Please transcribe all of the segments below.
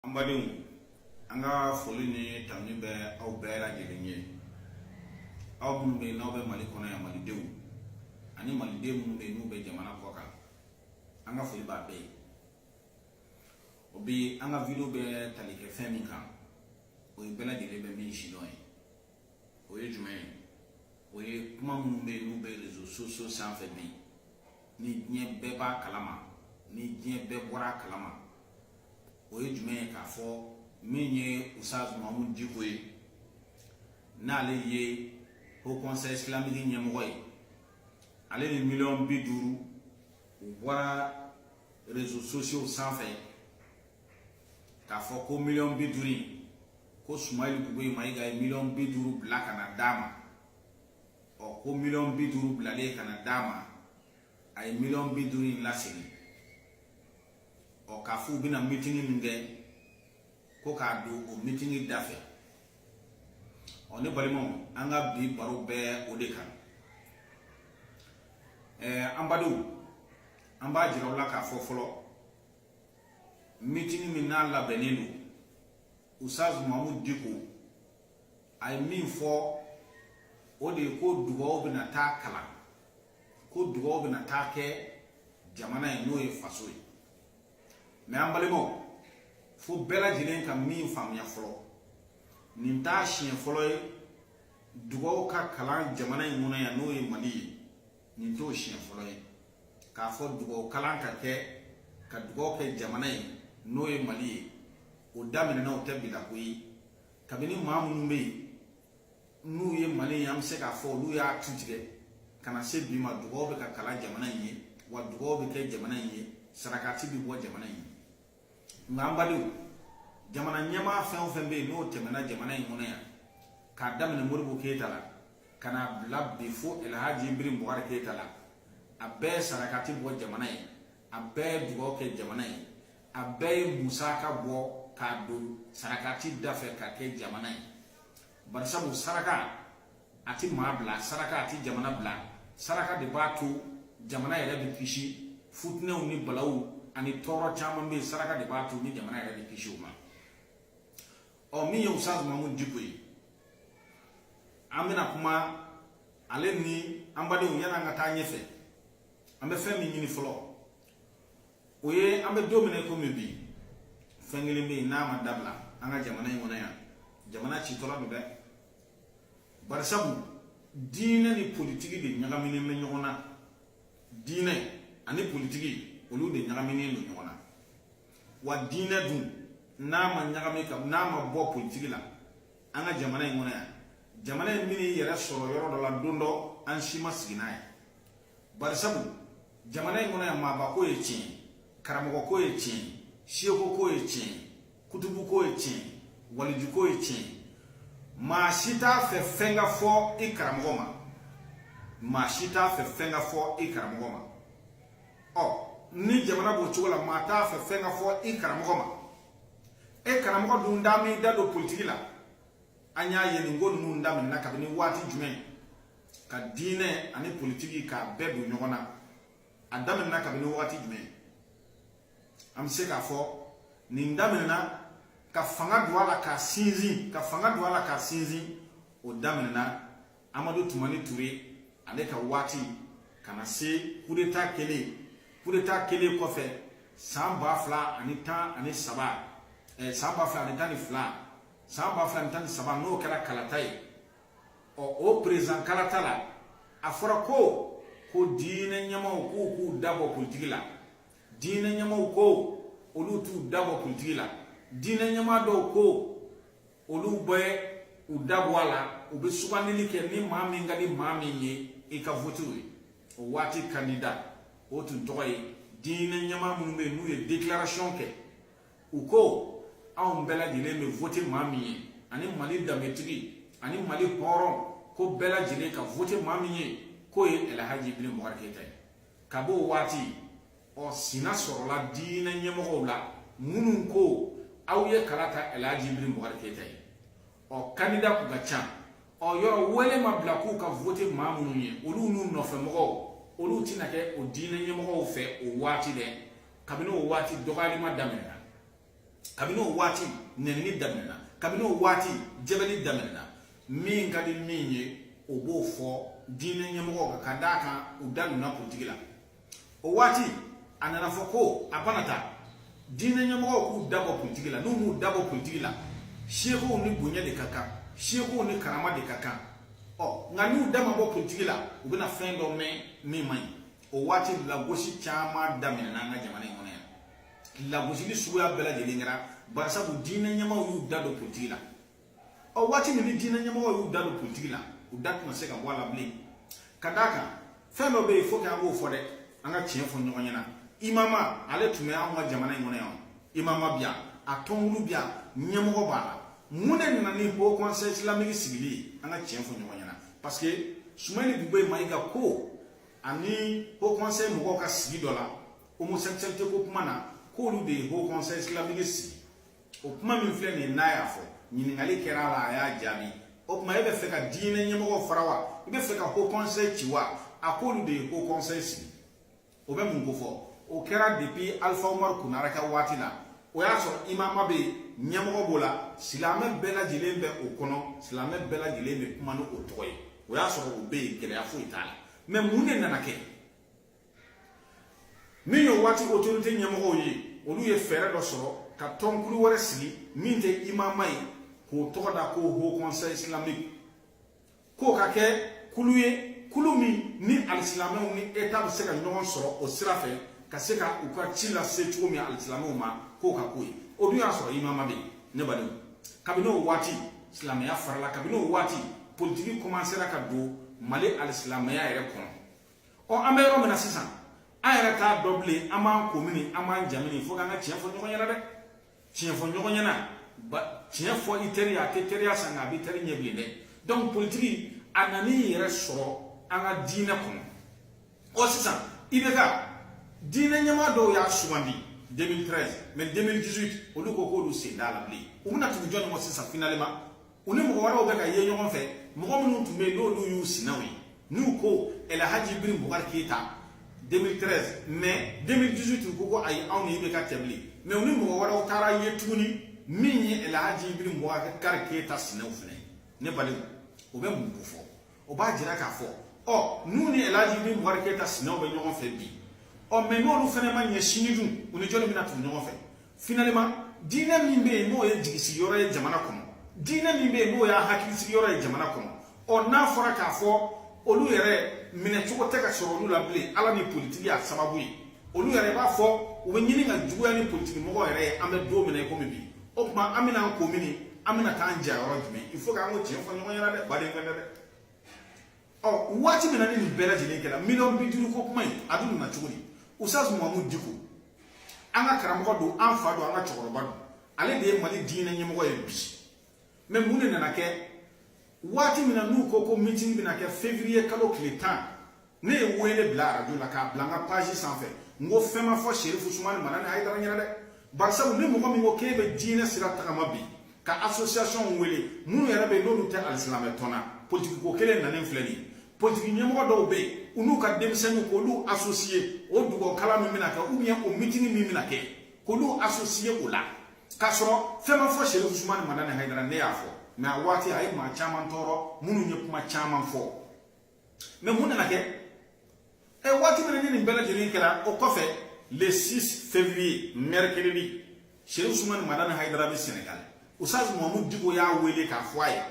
an badenw an ka foli ni tanuni bɛ aw bɛɛ lajɛlen ye aw minnu bɛ yen n'aw bɛ mali kɔnɔ yan malidenw ani maliden minnu bɛ yen n'u bɛ jamana kɔ kan an ka foli b'a bɛɛ ye o bi an ka video bɛ tali kɛ fɛn min kan o ye bɛɛ lajɛlen bɛ min sidɔn ye o ye jumɛn ye o ye kuma minnu bɛ yen n'u bɛ réseaux sociaux sanfɛ bi ni diɲɛ bɛɛ b'a kalama ni diɲɛ bɛɛ bɔra a kalama o ye jumɛn ye k'a fɔ min ye usaz mahamud diko ye n'ale ye haut conseil islamique ɲɛmɔgɔ ye ale ni miliyɔn bi duuru u bɔra réseaux sociaux sanfɛ k'a fɔ ko miliyɔn bi duuru in ko sumayilu bubɛyi mayiga ye miliyɔn bi duuru bila ka na d'a ma ɔ ko miliyɔn bi duuru bilalen ka na d'a ma a ye miliyɔn bi duuru in lasegin ɔ k'a fɔ u bɛna mitini min kɛ ko k'a don o mitini da fɛ ɔ ne balimaw an ka bi baro bɛ o de kan ɛɛ an badenw an b'a jira aw la k'a fɔ fɔlɔ mitini min n'a labɛnnen don usaz mahamud diko a ye min fɔ o de ye ko dugaw bɛna taa kalan ko dugaw bɛna taa kɛ jamana ye n'o ye faso ye mɛ an balimaw fo bɛɛ lajɛlen ka min faamuya fɔlɔ nin t'a siɲɛ fɔlɔ ye dugaw ka kalan jamana in kɔnɔ yan n'o ye mali ye nin t'o siɲɛ fɔlɔ ye k'a fɔ dugaw kalan ka kɛ ka dugaw kɛ jamana ye n'o ye mali ye o daminɛna o tɛ bi la ko ye kabini maa minnu bɛ yen n'u ye mali ye an bɛ se k'a fɔ olu y'a tu tigɛ ka na se bi ma dugaw bɛ ka kalan jamana in ye wa dugaw bɛ kɛ jamana in ye sarakati bɛ bɔ jamana in ye nka an badenw jamana ɲɛmaa fɛn o fɛn bɛ yen n'o tɛmɛna jamana in kɔnɔ yan k'a daminɛ modibo keyita la ka n'a bila bi fo elhaji ibirahimu bubakari keyita la a bɛɛ sarakati bɔ jamana ye a bɛɛ ye dugawu kɛ jamana ye a bɛɛ ye musaka bɔ k'a don sarakati da fɛ ka kɛ jamana ye barisabu saraka a tɛ maa bila saraka a tɛ jamana bila saraka de b'a to jamana yɛrɛ bɛ kisi fitinɛw ni balawu ani tɔɔrɔ caman bɛ yen saraka de b'a to ni jamana yɛrɛ bɛ kisi o ma ɔ min ye usaz mahamud diko ye an bɛna kuma ale ni an badenw yan'an ka taa ɲɛfɛ an bɛ fɛn min ɲini fɔlɔ o ye an bɛ don min na komi bi fɛn kelen bɛ yen n'a ma dabila an ka jamana in kɔnɔ yan jamana citɔla don dɛ barisabu diinɛ ni politiki de ɲagaminen bɛ ɲɔgɔn na diinɛ ani politiki olu de ɲagaminen don ɲɔgɔn na wa diinɛ dun n'a ma ɲagami ka n'a ma bɔ politiki la an ka jamana in kɔnɔ yan jamana in bɛna i yɛrɛ sɔrɔ yɔrɔ dɔ la don dɔ an si ma sigi n'a ye barisabu jamana in kɔnɔ yan maabako ye tiɲɛ karamɔgɔko ye tiɲɛ siyekoko ye tiɲɛ kutubuko ye tiɲɛ walijuko ye tiɲɛ maa si t'a fɛ fɛn ka fɔ i karamɔgɔ ma maa si t'a fɛ fɛn ka fɔ i karamɔgɔ ma ɔ ni jamana b'o cogo la maa t'a fɛ fɛn ka fɔ i karamɔgɔ ma e karamɔgɔ dun da m'i da don politiki la an y'a ye nin ko ninnu daminɛna kabini waati jumɛn ka diinɛ ani politiki k'a bɛɛ don ɲɔgɔn na a daminɛna kabini wagati jumɛn an bɛ se k'a fɔ nin daminɛna ka fanga don a la k'a sinsin ka fanga don a la k'a sinsin o daminɛna amadu tumani ture ale ka waati ka na se kudeta kɛlen kudeta kɛlen kɔfɛ san ba fila ani tan ani saba eh, san ba fila ani tan ni fila san ba fila ani tan ni saba n'o kɛra kalata ye ɔ o perezidan kalata la a fɔra ko ko diinɛ ɲɛmaaw k'u k'u dabɔ politiki la diinɛ ɲɛmaaw ko olu t'u dabɔ politiki la diinɛ ɲɛmaa dɔw ko olu bɛ u dabɔ a la u bɛ sugandili kɛ ni maa min ka di maa min ye i ka vote o ye o waati kandida o tun tɔgɔ ye diinɛ ɲɛmaa minnu bɛ yen n'u ye declaration kɛ u ko anw bɛɛ lajɛlen bɛ vote maa min ye ani mali danbetigi ani mali hɔrɔn ko bɛɛ lajɛlen ka vote maa min ye k'o ye ɛlɛhaji iburahima bubakari keyita ye ka b'o waati o sina sɔrɔla diinɛ ɲɛmɔgɔw la minnu ko aw ye kala ta ɛlɛhaji iburahima bubakari keyita ye ɔ kandida kun ka ca o yɔrɔ wele ma bila k'u ka vote maa minnu ye olu n'u nɔfɛmɔgɔw olu tɛna kɛ o diinɛ ɲɛmɔgɔw fɛ o waati dɛ kabini o waati dɔgɔyaliba daminɛna kabini o waati nɛnini daminɛna kabini o waati jɛbɛli daminɛna min ka di min ye o b'o fɔ diinɛ ɲɛmɔgɔw kan ka d'a kan u da donna politiki la o waati a nana fɔ ko a bana ta diinɛ ɲɛmɔgɔw k'u dabɔ politiki la n'u m'u dabɔ politiki la sekow ni bonya de ka kan sekow ni karama de ka kan ɔ nka n'u da ma bɔ politiki la u bɛna fɛn dɔ mɛn min man ɲi o waati lagosi caman daminɛna an ka jamana in kɔnɔ yan lagosili suguya bɛɛ lajɛlen kɛra barisabu diinɛ ɲɛmaaw y'u da don politiki la ɔ waati min ni diinɛ ɲɛmɔgɔ y'u da don politiki la u da tɛna se ka bɔ a la bilen ka d'a kan fɛn dɔ bɛ yen fo k'an k'o fɔ dɛ an ka tiɲɛ fɔ ɲɔgɔn ɲɛna imama ale tun bɛ anw ka jamana in kɔnɔ yan imama bi yan a tɔnkulu bi yan ɲɛmɔgɔ b'a la mun de nana ni haut conseil islamique sigili ye an ka tiɲɛ fɔ ɲɔgɔn ɲɛna parce que sumeyilu bubɛyi mayiga ko ani haut conseil mɔgɔw ka sigi dɔ la homosexualité ko kuma na k'olu de ye haut conseil islamique sigi o kuma min filɛ nin ye n'a y'a fɔ ɲininkali kɛra a la a y'a jaabi o tuma e bɛ fɛ ka diinɛ ɲɛmɔgɔw fara wa i bɛ fɛ ka haut conseil ci wa a k'olu de ye haut conseil sigi o bɛ mun kofɔ o kɛra depuis alpha umaru konare ka waati la o y'a sɔrɔ imama bɛ yen ɲɛmɔgɔ b'o la silamɛ bɛɛ lajɛlen bɛ o kɔnɔ silamɛ bɛɛ lajɛlen bɛ kuma ni o tɔgɔ ye o y'a sɔrɔ o bɛ yen gɛlɛya foyi t'a la mɛ mun de nana kɛ min y'o waati otorite ɲɛmɔgɔw ye olu ye fɛɛrɛ dɔ sɔrɔ ka tɔnkulu wɛrɛ sigi min tɛ imama ye k'o tɔgɔ da ko haut conseil islamique k'o ka kɛ kulu ye kulu min ni alisilamɛw ni eta bɛ se ka ɲɔgɔn sɔrɔ o sira fɛ ka se ka u ka ci lase cogo min alisilamɛw ma k'o ka k'o ye o dun y'a sɔrɔ imama bɛ yen ne badenw kabini o waati silamɛya farala kabini o waati politiki kɔmansera ka don mali alisilamɛya yɛrɛ kɔnɔ ɔ an bɛ yɔrɔ min na sisan an yɛrɛ t'a dɔn bilen an b'an ko mini an b'an ja mini fo k'an ka tiɲɛ fɔ ɲɔgɔn ɲɛna dɛ tiɲɛ fɔ ɲɔgɔn ɲɛna ba tiɲɛ fɔ i teri y'a tɛ teriya sa nka a b'i teri ɲɛ bilen dɛ donc politiki a nana i yɛrɛ sɔrɔ an ka diinɛ kɔnɔ ɔ sisan ibk diinɛ ɲɛmaa dɔw y'a sugandi 2013 mais 2018 olu ko k'olu sen t'a la bilen u bɛna tugu jɔni ma sisan finalement u ni mɔgɔ wɛrɛw bɛ ka ye ɲɔgɔn fɛ mɔgɔ minnu tun bɛ yen n'olu y'u sinaw ye n'u ko ɛlɛhaji ibrahim bubakari keyita 2013 mais 2018 u ko ko ayi anw ni ibk tɛ bilen mais u ni mɔgɔ wɛrɛw taara ye tuguni min ye ɛlɛhaji ibrahim bubakari keyita sinaw fɛnɛ ye ne balimaw o bɛ mun kofɔ o b'a jira k'a fɔ ɔ n'u ni elaji ibrahim bubakari keyita sinaw bɛ ɲɔgɔn fɛ bi ɔ mɛ n'olu fɛnɛ ma ɲɛ sini dun u ni jɔni bɛna tugu ɲɔgɔn fɛ finalement diinɛ min bɛ yen n'o ye jigisigi yɔrɔ ye jamana kɔnɔ diinɛ min bɛ yen n'o y'a hakilisigi yɔrɔ ye jamana kɔnɔ ɔ n'a fɔra k'a fɔ olu yɛrɛ minɛ cogo tɛ ka sɔrɔ olu la bilen ala ni politiki y'a sababu ye olu yɛrɛ b'a fɔ u bɛ ɲini ka juguya ni politiki mɔgɔ yɛrɛ ye an bɛ don min na i komi bi o tuma an bɛna an ko mini an bɛna taa an ja yɔrɔ jumɛn il faut k'an k'o tiɲɛ fɔ ɲɔgɔn ɲɛna dɛ baden fɛn tɛ dɛ ɔ waati min na ni nin bɛɛ lajɛlen kɛra miliyɔn bi duuru ko kuma in a dun nana cogo di ustaz mahamudu diko an ka karamɔgɔ don an fa don an ka cɛkɔrɔba don ale de ye mali diinɛ ɲɛmɔgɔ ye bi mɛ mun de nana kɛ waati min na n'u ko ko meeting bɛna kɛ février kalo tile tan ne ye wele bila arajo la k'a bila n ka page sanfɛ n ko fɛn ma fɔ serifu usumani madani hayidara ɲɛna dɛ barisabu ni mɔgɔ min ko k'e bɛ diinɛ sira tagama bi ka association wele minnu yɛrɛ bɛ yen n'olu tɛ alisilamɛ tɔn na politiki ko kelen nanen filɛ nin ye politiki ɲɛmɔgɔ dɔw bɛ yen u n'u ka denmisɛnninw k'olu associer o dugawu kalan min bɛna kɛ ou bien o mitini min bɛna kɛ k'olu associer o la k'a sɔrɔ fɛn ma fɔ serifu usumani madani hayidara ne y'a fɔ mais a waati a ye maa caman tɔɔrɔ minnu ye kuma caman fɔ mais mun nana kɛ ɛ waati min ni nin bɛɛ lajɛlen kɛra o kɔfɛ le 6 février mercredi serifu usumani madani hayidara bɛ senegal ustaz mahamud diko y'a wele k'a fɔ a ye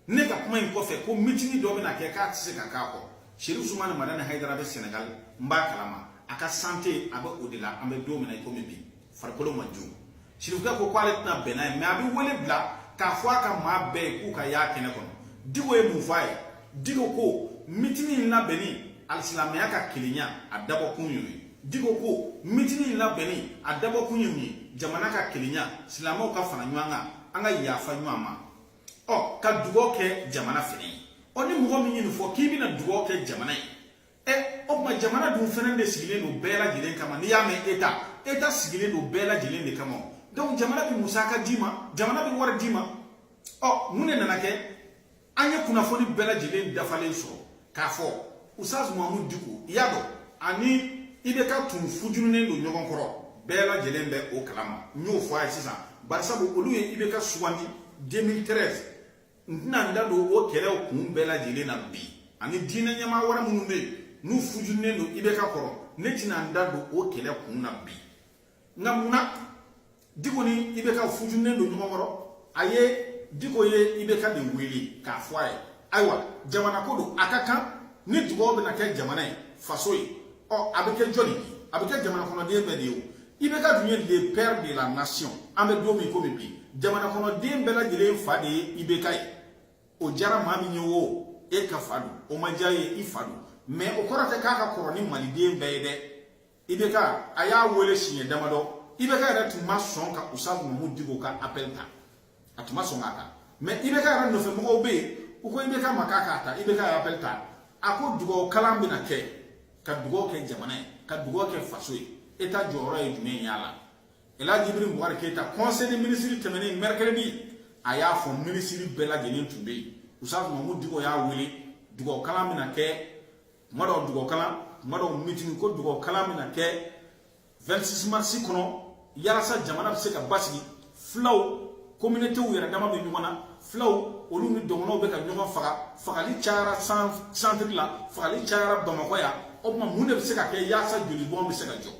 ne ka kuma in kɔfɛ ko mitini dɔ bɛna kɛ k'a tɛ se ka k'a kɔ serifu usumani madani hayidara bɛ senegal n b'a kalama a ka sante a bɛ o de la an bɛ don min na i komi bi farikolo man jugu serifukɛ ko k'ale tɛna bɛn n'a ye mais a bɛ wele bila k'a fɔ a ka maa bɛɛ ye k'u ka y'a kɛnɛ kɔnɔ diko ye mun fɔ a ye diko ko mitini in labɛnni alisilamɛya ka kelenya a dabɔkun y'o ye diko ko mitini in labɛnni a dabɔkun ye mun ye jamana ka kelenya silamɛw ka fara ɲɔgɔn kan an ka yafa ɲɔgɔn ma ɔ ka dugaw kɛ jamana fɛnɛ ye ɔ ni mɔgɔ min ye nin fɔ k'i bɛna dugaw kɛ jamana ye ɛ o tuma jamana dun fana de sigilen don bɛɛ lajɛlen kama n'i y'a mɛn état état sigilen don bɛɛ lajɛlen de kama donc jamana bɛ musaka d'i ma jamana bɛ wari d'i ma ɔ mun de nana kɛ an ye kunnafoni bɛɛ lajɛlen dafalen sɔrɔ k'a fɔ ustaz mahamud diko i y'a dɔn ani IBK tun fujunen don ɲɔgɔn kɔrɔ bɛɛ lajɛlen bɛ o kalama n y'o fɔ a ye sisan barisabu olu ye IBK sugandi 2013 n tɛna n da don o kɛlɛw kun bɛɛ lajɛlen na bi ani diinɛ ɲɛmaa wɛrɛ minnu bɛ yen n'u fujunen don IBK kɔrɔ ne tɛna n da don o kɛlɛ kun na bi nka mun na diko ni IBK fujunen don ɲɔgɔn kɔrɔ a ye diko ye IBK de wele k'a fɔ a ye ayiwa jamana ko don a ka kan ni dugaw bɛna kɛ jamana ye faso ye ɔ a bɛ kɛ jɔni ye a bɛ kɛ jamana kɔnɔden bɛɛ de ye o IBK dun ye le père de la nation an bɛ don min komi bi jamana kɔnɔden bɛɛ lajɛlen fa de ye IBK ye o diyara maa min ye o e ka fa don o ma diya ye i fa don mais o kɔrɔ tɛ k'a ka kɔrɔ ni maliden bɛɛ ye dɛ IBK a y'a wele siɲɛ damadɔ IBK yɛrɛ tun ma sɔn ka ustaz mahamud diko ka appel ta a tun ma sɔn k'a ta mais IBK yɛrɛ nɔfɛmɔgɔw bɛ yen u ko IBK ma k'a k'a ta IBK ye appel ta a ko dugawu kalan bɛna kɛ ka dugawu kɛ jamana ye ka dugawu kɛ faso ye état jɔyɔrɔ ye jumɛn ye a la elhaji ibrahim bubakar keyita conseil des ministres tɛmɛnen mercredi a y'a fɔ minisiri bɛɛ lajɛlen tun bɛ yen ustaz mahamud diko y'a wele dugawu kalan bɛna kɛ tuma dɔw dugawu kalan tuma dɔw mitini ko dugawu kalan bɛna kɛ 26 mars kɔnɔ yalasa jamana bɛ se ka basigi fulaw communautéw yɛrɛ dama bɛ ɲɔgɔn na fulaw olu ni dɔgɔnɔw bɛ ka ɲɔgɔn faga fagali cayara centre la fagali cayara bamakɔ yan o tuma mun de bɛ se ka kɛ yasa joli bɔn bɛ se ka jɔ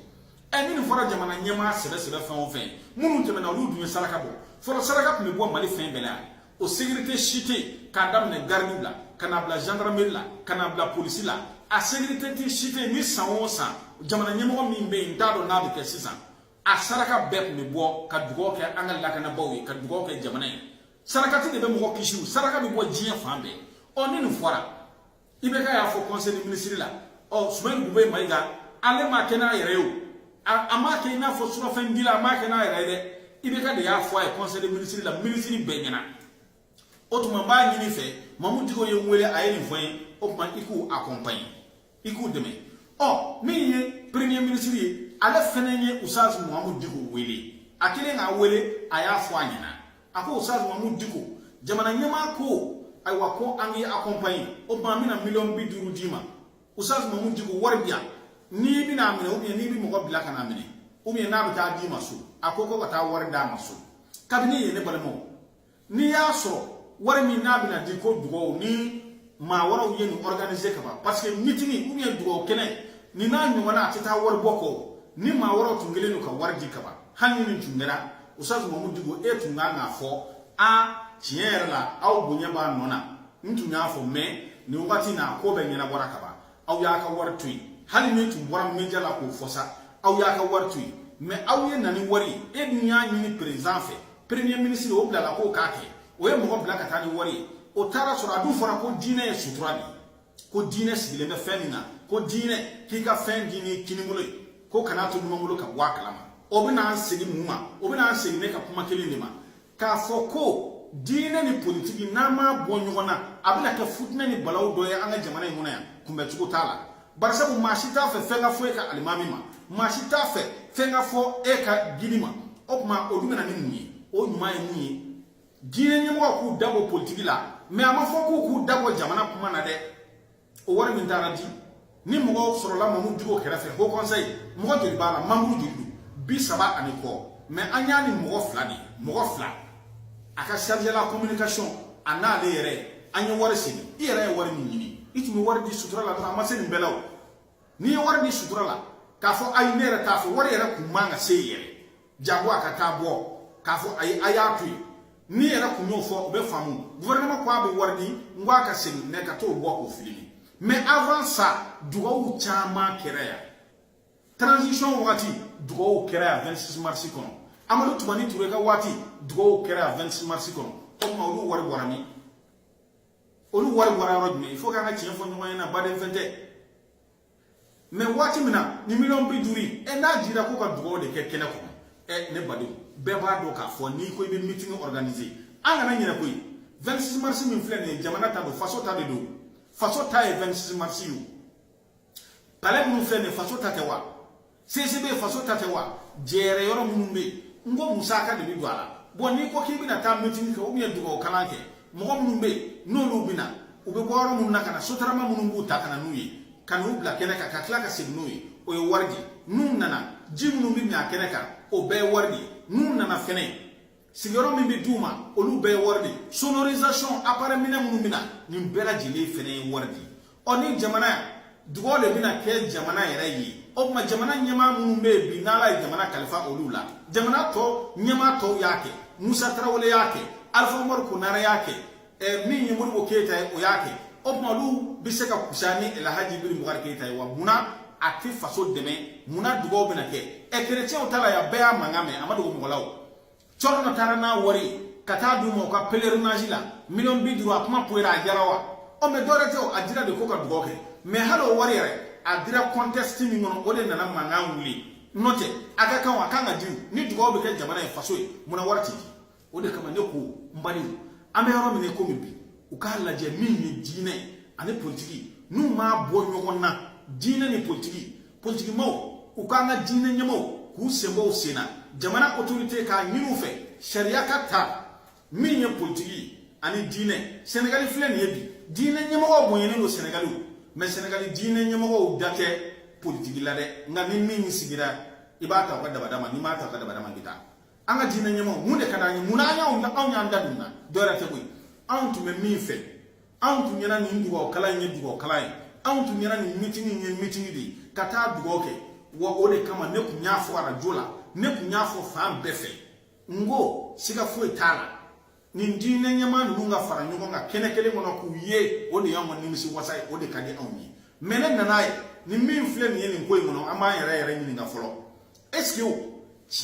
ɛ ni nin fɔra jamana ɲɛmaa sɛbɛ sɛbɛ fɛn o fɛn minnu tɛmɛna olu dun ye saraka bɔ fɔlɔ saraka tun bɛ bɔ mali fɛn bɛɛ la yan o sécurité si tɛ yen k'a daminɛ garidiw la ka n'a bila gendarmerie la ka n'a bila polisi la a sécurité tɛ si tɛ yen ni san o san jamana ɲɛmɔgɔ min bɛ yen n t'a dɔn n'a bɛ kɛ sisan a saraka bɛɛ tun bɛ bɔ ka dugawu kɛ an ka lakanabaaw ye ka dugawu kɛ jamana ye sarakati de bɛ mɔgɔ kisi saraka bɛ bɔ diɲɛ fan bɛɛ ɔ ni nin fɔra IBK y'a fɔ conseil des ministres la ɔ Soumeylou Boubèye Maïga ale m'a kɛ n'a yɛrɛ ye o a m'a kɛ i n'a fɔ surafɛn dila a m'a kɛ n'a yɛrɛ ye dɛ IBK de y'a fɔ a ye conseil des ministres la minisiri bɛɛ ɲɛna o tuma n b'a ɲini fɛ mamu diko ye n wele a ye nin fɔ n ye o tuma i k'u accompagner i k'u dɛmɛ ɔ min ye premier ministre ye ale fɛnɛ ye ustaz mamu diko wele a kɛlen k'a wele a y'a fɔ a ɲɛna a ko Ustaz Mamu Diko jamana ɲɛmaa ko ayiwa ko an k'i accompagner o tuma an bɛna miliyɔn bi duuru d'i ma Ustaz Mamu Diko wari bi yan n'i bɛna a minɛ ou bien n'i bɛ mɔgɔ bila ka n'a minɛ ou bien n'a bɛ taa d'i ma so a ko ko ka taa wari d'a ma so kabini yen ne balimaw n'i y'a sɔrɔ wari min n'a bɛna di ko dugawu ni maa wɛrɛw ye nin organiser ka ban parce que meeting ou bien dugawu kɛnɛ nin n'a ɲɔgɔnna a tɛ taa wari bɔ kɔ ni maa wɛrɛw tun kɛlen don ka wari di ka ban hali ni nin tun kɛra ustaz mamu diko e tun kan k'a fɔ a tiɲɛ yɛrɛ la aw bonya b'a nɔ na n tun y'a fɔ mɛ nin wagati na ko bɛɛ ɲɛnabɔra ka ban aw y'a ka wari to yen hali n'i tun bɔra media la k'o fɔ sa aw y'a ka wari to yen mɛ aw ye na ni wari ye e dun y'a ɲini président fɛ premier ministre o bilala k'o k'a kɛ o ye mɔgɔ bila ka taa ni wari ye o taara sɔrɔ a dun fɔra ko diinɛ ye sutura de ye ko diinɛ sigilen bɛ fɛn min na ko diinɛ k'i ka fɛn di ni kinibolo ye ko kana to numanbolo ka bɔ a kalama o bɛna an segin mun ma o bɛna an segin ne ka kuma kelen de ma k'a fɔ ko diinɛ ni politiki n'an m'a bɔ ɲɔgɔn na a bɛna kɛ futinɛ ni balawu dɔ ye an ka jamana in kɔnɔ yan kunbɛcogo t'a la barisabu maa si t'a fɛ fɛn ka fɔ e ka alimami ma maa si t'a fɛ fɛn ka fɔ e ka guide ma o tuma o dun bɛna ni mun ye o ɲuman ye mun ye diinɛ ɲɛmɔgɔ k'u dabɔ politiki la mɛ a ma fɔ k'u k'u dabɔ jamana kuma na dɛ o wari min taara di ni mɔgɔw sɔrɔla mamu diko kɛrɛfɛ haut conseil mɔgɔ joli b'a la membre joli don bi saba ani kɔ mɛ an y'a ni mɔgɔ fila de mɔgɔ fila a ka chargé la communication a n'ale yɛrɛ an ye wari segin i yɛrɛ ye wari min ɲini i tun bɛ wari di sutura la dɔrɔn a ma se nin bɛɛ la o n'i ye wari di sutura la k'a fɔ ayi ne yɛrɛ t'a fɛ wari yɛrɛ kuma ka se i yɛrɛ jango a ka taa bɔ k'a fɔ ayi a y'a to yen n'i yɛrɛ kun y'o fɔ o bɛ faamu gouvernement ko a bɛ wari di n ko a ka segin ne ka t'o bɔ k'o filimi mais avant ça dugawu caman kɛra yan transition wagati dugawu kɛra yan 26 mars kɔnɔ amadu tumani ture ka waati dugawu kɛra yan 26 mars kɔnɔ o tuma olu wari bɔra min olu wari bɔra yɔrɔ jumɛn il faut k'an ka tiɲɛ fɔ ɲɔgɔn ɲɛna baden fɛn tɛ mais waati min na ni miliyɔn bi duuru ye ɛ n'a dira ko ka dugawu de kɛ kɛnɛ kɔnɔ ɛ ne badenw bɛɛ b'a dɔn k'a fɔ n'i ko i bɛ meeting organiser an kana ɲinɛ koyi 26 mars min filɛ nin ye jamana ta don faso ta de don faso ta ye 26 mars ye o palais minnu filɛ nin ye faso ta tɛ wa CCB faso ta tɛ wa jɛrɛ yɔrɔ minnu bɛ yen n ko musaka de bɛ don a la bon n'i ko k'i bɛna taa mitini kɛ ou bien dugawu kalan kɛ mɔgɔ minnu bɛ yen n'olu bɛ na u bɛ bɔ yɔrɔ minnu na ka na sotarama minnu b'u ta ka na n'u ye ka n'u bila kɛnɛ kan ka tila ka segin n'u ye o ye wari de ye n'u nana ji minnu bɛ min a kɛnɛ kan o bɛɛ ye wari de ye n'u nana fɛnɛ sigiyɔrɔ min bɛ d'u ma olu bɛɛ ye wari de ye sonorisation appareil minɛn minnu bɛ na nin bɛɛ lajɛlen fɛnɛ ye wari de ye ɔ ni jamana dugaw de bɛna kɛ jamana yɛrɛ ye o tuma jamana ɲɛmaa minnu bɛ yen bi n'ala ye jamana kalifa olu la jamana tɔ ɲɛmaa tɔw y'a kɛ musa tarawele y'a kɛ alifa umaru konare y'a kɛ ɛ min ye modibo keyita ye o y'a kɛ o tuma olu bɛ se ka kusa ni alhaji ibrahim bubakari keyita ye wa munna a tɛ faso dɛmɛ munna dugaw bɛna kɛ ɛ kerecɛnw ta la yan bɛɛ y'a mankan mɛn a ma dogo mɔgɔ la o cɔrɔnɔ taara n'a wari ye ka taa d'u ma u ka pèlerinage la miliyɔn bi duuru a kuma poyira a diyara wa ɔ mais dɔwɛrɛ tɛ o a dira de ko ka dugaw kɛ mais hali o wari yɛrɛ a dira contexte min kɔnɔ o de nana mankan wuli n'o tɛ a ka kan a kan ka di ni dugaw bɛ kɛ jamana ye faso ye munna wari tɛ di o de kama ne ko mali an bɛ yɔrɔ min na komi bi u k'a lajɛ min ye diinɛ ani politiki n'u ma bɔ ɲɔgɔn na diinɛ ni politiki politikimaw u k'an ka diinɛ ɲɛmaaw k'u sen bɔ u sen na jamana otorite k'a ɲini u fɛ sariya ka ta min ye politiki ani diinɛ sɛnɛgali filɛ nin ye bi diinɛ ɲɛmɔgɔw bonyɛnen don sɛnɛgali mais sɛnɛgali diinɛ ɲɛmɔgɔw da tɛ politiki la dɛ nka ni min sigira i bɛ taa u ka dabada ma n'i ma taa u ka dabada ma i bɛ taa an ka diinɛ ɲɛmɔgɔ mun de ka d'an ye munna an y'anw anw y'an da don na dɔwɛrɛ tɛ koyi anw tun bɛ min fɛ anw tun ɲɛna nin dugawu kalan in ye dugawu kalan ye anw tun ɲɛna nin mitini in ye mitini de ye ka taa dugawu kɛ wa o de kama ne tun y'a fɔ arajo la ne tun y'a fɔ fan bɛɛ fɛ n ko siga foyi t'a la nin diinɛ ɲɛmaa ninnu ka fara ɲɔgɔn kan kɛnɛ kelen kɔnɔ k'u ye o de y'anw ka nimisi wasa ye o de ka di anw ye mɛ ne nan'a ye ni min filɛ nin ye nin ko in kɔnɔ an b'an yɛrɛ yɛrɛ ɲininka fɔlɔ est ce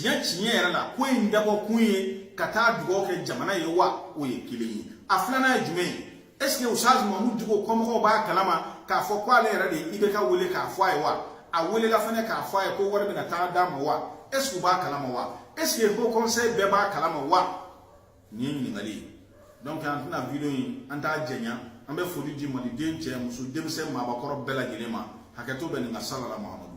que tiɲɛ yɛrɛ la ko in dabɔ kun ye ka taa dugawu kɛ jamana ye wa o ye kelen ye a filanan ye jumɛn ye est ce que ustaz mamud diko kɔmɔgɔw b'a kalama k'a fɔ ko ale yɛrɛ de ye ibeka wele k'a fɔ a ye wa a welela fɛnɛ k'a fɔ a ye ko wari bɛna taa d'a ma wa est ce que u b'a kalama wa est ce que haut conseil bɛɛ b'a kalama wa nin ye ɲininkali ye donc an tɛna video in an t'a jɛnya an bɛ foli di maliden cɛ muso denmisɛn maabakɔrɔ bɛɛ lajɛlen ma hakɛto bɛ nin kan sala ala muhamadu